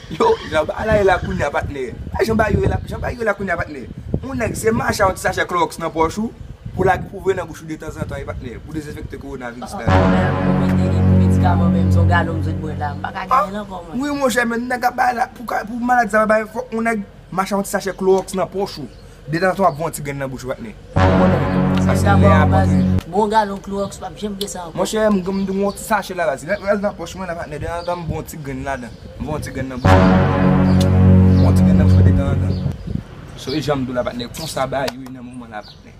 Yo, jan ba la ye la kounye a patnè. A jan ba yo ye la, jan ba yo ye la kounye a patnè. Yon nèg se mache ak yon ti sachè kloroks nan pòch ou, pou lage pou voye nan bouch ou detanzantan e patnè, pou dezenfekte kowonaviris la. An, wi monchè men nèg ap bay la pou maladi sa pa bay fòk yon nèg. Mache ak yon ti sachè klowòks nan pòch ou. Detanzantan w ap voye yon ti grenn nan bouch ou pa tnde. Pa gen pwoblèm. Sa se lè a pa gen. Bon galon klowòks pap janm gen sa ankò. Monchè m gen yon ti sachè la baz. Rèl nan pòch mwen la patnè. Detanzantan m voye yon ti grenn ladan. M voye yon ti grenn nan bouch mwen. M voye yon ti grenn nan bouch mwen detanzantan. Sonje jan m di w la patnè. Konsa bagay yo ye nan moman la patnè.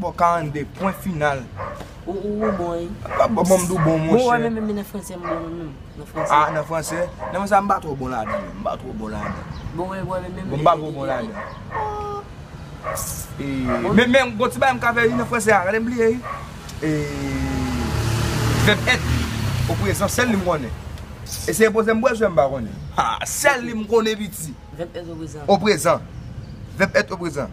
Bon 42 pwen final. Ou bon wi. Wap bon banm dou bon monchè. Bon wè menm menm nan fransè m bon menm nan fransè. Ah nan fransè? Nan fransè m pa twò bon ladan menm. M pa twò bon ladan. Bon wè wè menm menm. Bon m pa twò bon ladan. Eee menm menm gon ti bagay m ka fè wi nan fransè a. Gade m bliye wi. Eee vèb èt o prezan sèl li m konnen. Eseye poze m bwèl sou m pa konnen. Ha sèl li m konnen piti. Vèb èt o prezan. O prezan. Vèb èt o prezan.